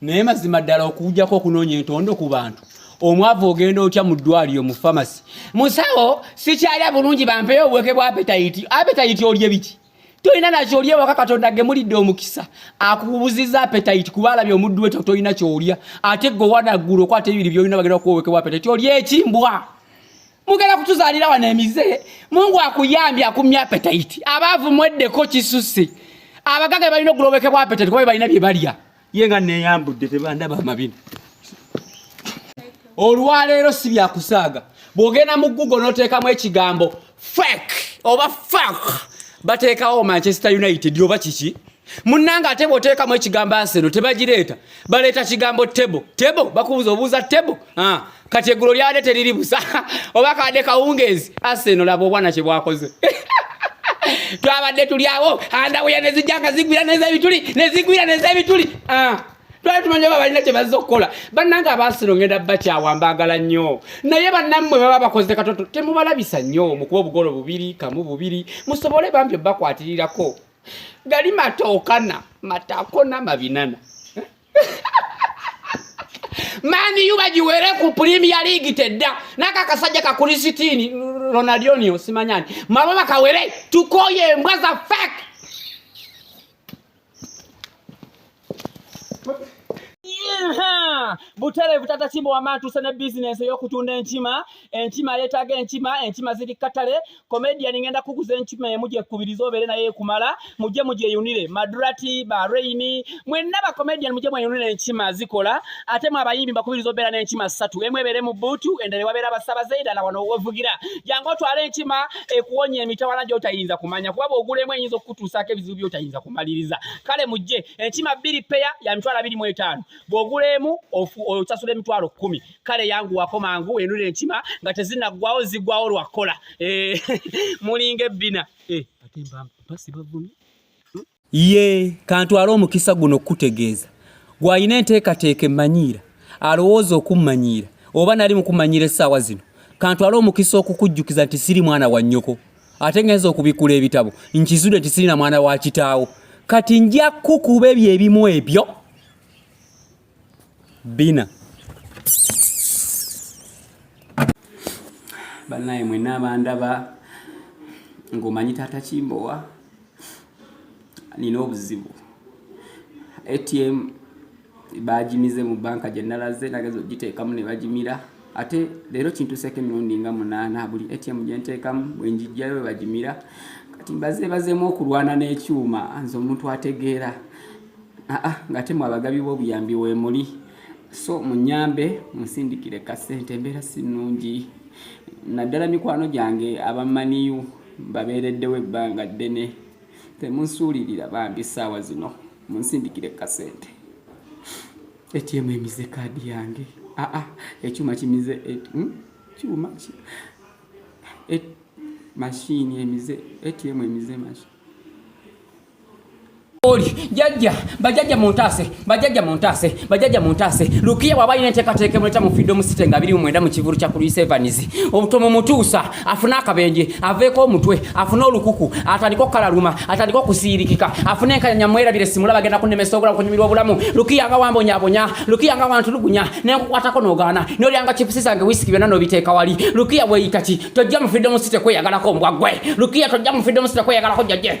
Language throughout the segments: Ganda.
naye mazima ddala okujjako okunoonya entondo ku bantu omwavu ogenda otya mu ddwaliro mu famasi musawo sikyalya bulungi bampeyo obuweke bwa apetayiti apetayiti olye biki tolina nakyo olya ewaka katonda gemulidde omukisa akubuziza apetayiti kuba alabye omuddu weto tolina kyolya ate gwe wanaggulu okwata ebibiri byolina bagenda kuwowekebwa apetayiti olya ekimbwa mugenda kutuzaalira wano emize mungu akuyambye akumya apetayiti abaavu mweddeko kisusse abagaga balina okulowekebwa apetayiti kuba be balina bye balya ye nga neyambudde tebandaba amabina olwaleero si byakusaaga bwogenda mu google noteekamu ekigambo fek oba fak bateekawo manchester united oba kiki munange ate bwoteekamu ekigambo aseno tebagireeta baleeta kigambo tebo tebo bakubuza obuuza tebo ah. kati eggulo lyade teriri busa oba kade kawungeezi aseno laba obwana kye bwakoze twabadde tuli awo andawuya nezijanga zigwira nezebituli nezigwira nezebituli ah. twali tumanyi oba balina kye bazza okukola bannange abaasino ngenda bakyawa mbaagala nnyo naye bannammwe baba bakoze katoto temubalabisa nnyo mukuba obugolo bubiri kamu bubiri musobole bambi obakwatirirako gali matookana matakona mabinana mani yu bagiwere ku premier league tedda naka kasajja ka kulisitini ronaldinho simanyani mabo bakawere tukoye embwa za fake butere butata kimbo wamatu sene business eyokutunda enkima enkima yetaga enkima enkima ziri katale comedian ngenda kuguza enkima emu gyekubiriza obeere naye ekumala mujje mugyeyunire madurati ba reini mwenna ba comedian mujje mweyunire enkima zikola ate mwe abayimbi mbakubiriza obeera n'enkima ssatu emu ebeere mu bbuutu endala ewabeera abasabaze endala wano wevugira jangu otwale enkima ekuwonya emitawana gyotayinza kumanya kuba bwogulemu eyinza okukutuusaako ebizibu byotayinza kumaliriza kale mujje enkima bbiri peya ya mitwalo abiri mu etaano bwogulemu osasula emitwalo kkumi kale yangu wako mangu enule enkima nga tezinaggwawo ziggwawo lwakkola eh, mulinga ebbina eh, ate mbasi bavumi hmm? ye kantwala omukisa guno okukutegeeza gwalina enteekateeka emmanyiira alowooza okummanyiira oba nali mukummanyiira essaawa zino kantwala omukisa okukujjukiza nti siri mwana wa nnyoko ate ngenza okubikkula ebitabo nkizude nti sirina mwana wa kitaawo kati nja kukuba ebyo ebimu ebyo bina banaye mwena abandaba ngaomanyi taata kimbowa nina obuzibu atm bagimize mu banka gyenalaze nageza ogiteekamu nebagimira ate leero kintuseeko emirundi nga munaana buli atm gyenteekamu bwenjijjayo webagimira kati mbaze bazeemu okulwana n'ekyuma nze omuntu ategeera ah, ah, ngate mwe abagabi b'obuyambi weemuli so munyambe munsindikire kasente embeera si nnungi naddala mikwano gyange abamaniyu babeereddewo ebbanga ddene temunsuulirira bambi ssaawa zino munsindikire kasente atm emize kaadi yange aa ah, ah, ekyuma kimize hmm? kyuma ki mashini emize atm emize mashini oli jajja bajajja muntaase bajajja muntaase bajajja muntaase lukiya bwaba alina enteekateeka emuleta mu freedom city nga biri mumwenda mu kivulu kya kuluis evans obutomu mutuusa afune akabenje aveeko omutwe afune olukuku atandika okukalaluma atandika okusiirikika afune enkanyanya mwerabire simula bagenda kunemesa obulamu kunyumirwa obulamu lukiya nga wambonyabonya lukiya nga wantulugunya nenkukwatako nogaana nolyanga chipusi zange wisiki byonna nobiteeka wali lukiya weyitaki tojja mu freedom city kweyagalako mbwa gwe lukiya tojja mu freedom city kweyagalako jajje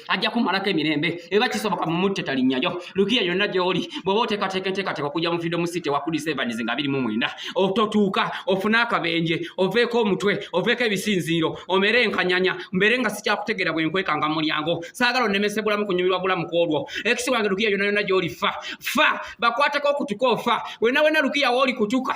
ajja kumalako emirembe eba kisoboka mu mutte talinnyayo lukiya yonna gy'oli bw'oba oteekateeka enteekateeka okujja mu freedom city ewa kulisa evans nga biri mu mwenda ototuuka ofune akabenje oveeko omutwe oveeko ebisinziiro omere enkanyanya mbeere nga sikyakutegeera bwe nkwekanga mu mulyango saagala onnemesebulamu kunyumirwa bulamu ku olwo ekisi wange lukiya yonna yonna gy'oli fa fa bakwateko okutuka ofa wena wena lukiya wooli kutuka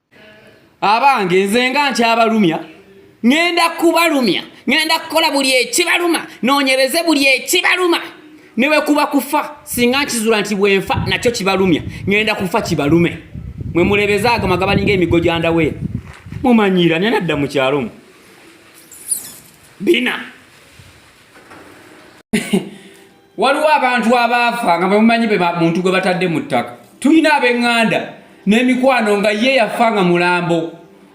abange nze nga nkyabalumya ŋenda kubalumya ŋenda kukola buli ekibaluma nonyereze buli ekibaluma newekuba kufa singa nkizula nti bwenfa nakyo kibalumya ŋenda kufa kibalume mwe mulebeze ago magabalinga emigo gyandawe mumanyira nena dda mukyalomu bina waliwo abantu abaafa nga bemumanyi be muntu gwe batadde mu ttaka tulina ab'eŋŋanda n'emikwano nga ye yafa nga mulambo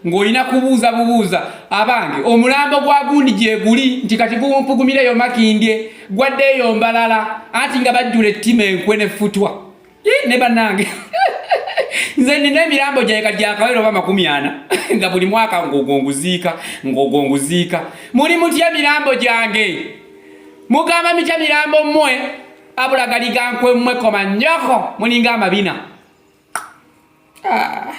ng'olina kubuuza bubuuza abange omulambo gwa gundi gyeguli nti kati guwumpugumireyo makindye gwaddeeyo mbalala anti nga bajjula ettima enkwe nefutwa ne banange nze nina emirambo gyaye kati gyakawera oba makumi ana nga buli mwaka ngogonguziika ngogonguziika muli mutya mirambo gyange mugamba mitya mirambo mmwe abulagaligankwe mmwe koma nyoko mulinga amabina ah.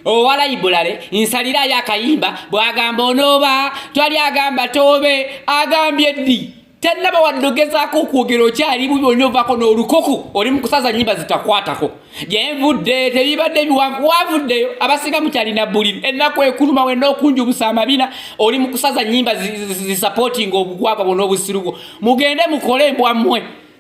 owala ibulale nsalirayo akayimba bwagamba onooba twali agamba toobe agambye ddi tannaba waddogezaako okwogera okyali bubi olina ovaako n'olukuku oli mu kusaza nyimba zitakwatako gyenvudde tebibadde ebiwanvu wavuddeyo abasinga mukyalina buliri ennaku ekuluma wenna okunjubusa amabina oli mu kusaza nyimba zisapootinga obugwagwa bwona obusiru bwo mugende mukole mbwammwe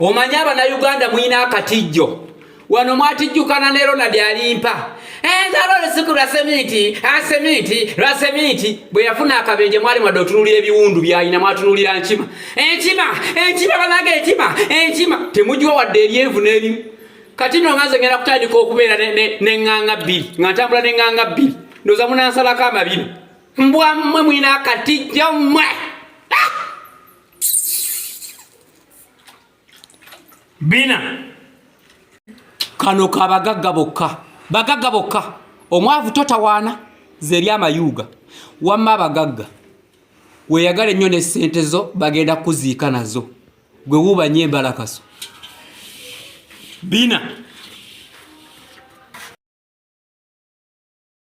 omanyi abanauganda mulina akatijjo wano mwatijjukana ne ronald alimpa ensalo eh, olusuku lwa seminti aseminti ah, lwa seminti bwe yafuna akabenje mwali mwadde otunulira ebiwundu byalina mwatunulira nkima enkima eh, enkima eh, banange enkima enkima temugiwa wadde eryenvu n'erimu kati no nganze ngenda kutandika okubeera neŋŋanga bbiri nga ntambula neŋŋanga bbiri ndoza munansalako amabina mbwa mmwe mulina akatijjo mmwe bina kano ka bagagga bokka bagagga bokka omwavu totawaana zeri amayuuga wamma abagagga weyagala ennyo ne ssente zo bagenda kuziika nazo gwe wuubanye embalakaso bina